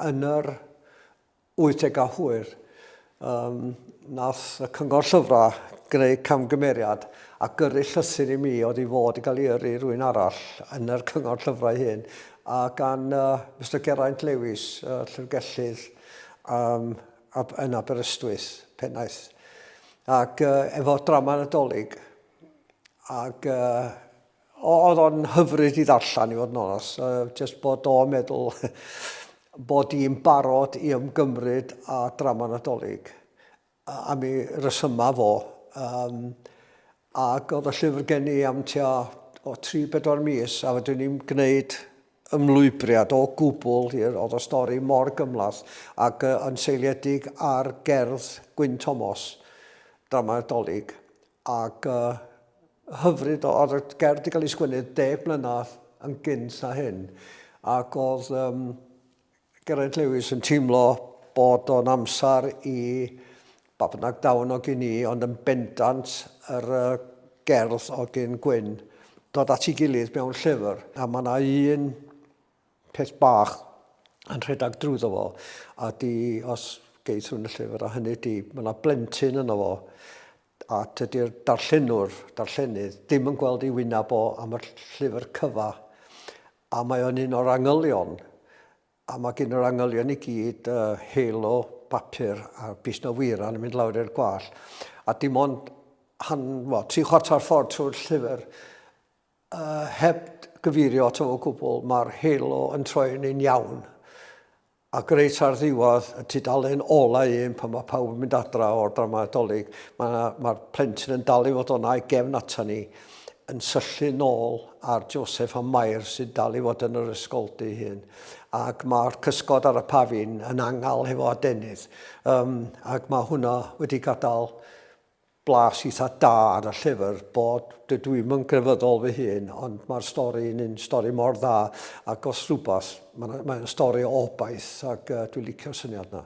Yn yr wythdegau hwyr, um, nath y cyngor llyfrau greu camgymeriad a gyrru llythyr i mi oedd i fod i gael ei yrru rwy'n arall yn yr cyngor llyfrau hyn a gan uh, Mr Geraint Lewis, uh, llyfrgellydd um, ab, yn Aberystwyth, pennaeth. Ac uh, efo drama nadolig, ac uh, Oedd o'n hyfryd i ddarllen i fod yn onos, just bod o'n meddwl bod i'n barod i ymgymryd â drama Nadolig am ei resymau fo. Um, ac oedd y llyfr gen i am tua o 3-4 mis a fydwn i'n gwneud ymlwybriad o gwbl hir, oedd y stori mor gymlath ac yn seiliedig ar gerdd Gwyn Thomas, drama Nadolig. ac hyfryd o oedd y gerdd wedi cael ei sgwennu deg mlynedd yn gynt na hyn ac oedd um, Geraint Lewis yn teimlo bod o'n amser i ba bynnag dawn o gyn i ond yn bendant yr uh, gerdd o gyn Gwyn dod at ei gilydd mewn llyfr a mae yna un peth bach yn rhedeg drwyddo fo, a di, os geithwn y llyfr, a hynny di, mae yna blentyn yno fo, a tydy'r darllenwr, darllenydd, ddim yn gweld ei wyneb o am y llyfr cyfa, a mae o'n un o'r angylion, a mae gen yr angylion i gyd uh, halo bapur a bus na wyran yn mynd lawr i'r gwall, a dim ond han, well, tri chwarter ffordd trwy'r llyfr, A heb gyfeirio ato fo o gwbl, mae'r halo yn troi'n un iawn. Ac reit ar ddiwedd y tudalen ola un, pan mae pawb yn mynd adra o'r dramau Dolig, mae'r ma plentyn yn dal i fod o'na i gefn ata ni, yn syllu nôl ar Joseph a Mair sy'n dal i fod yn yr ysgoldy hyn. Ac mae'r cysgod ar y pafin yn angal hefo adenydd. Um, ac mae hwnna wedi gadael Blas eitha da ar y llyfr bod, dydw i'm yn grefyddol fy hun, ond mae'r stori yn un stori mor dda ac os rhywbeth, mae'n stori o obaith ac dwi'n licio'r syniad yna.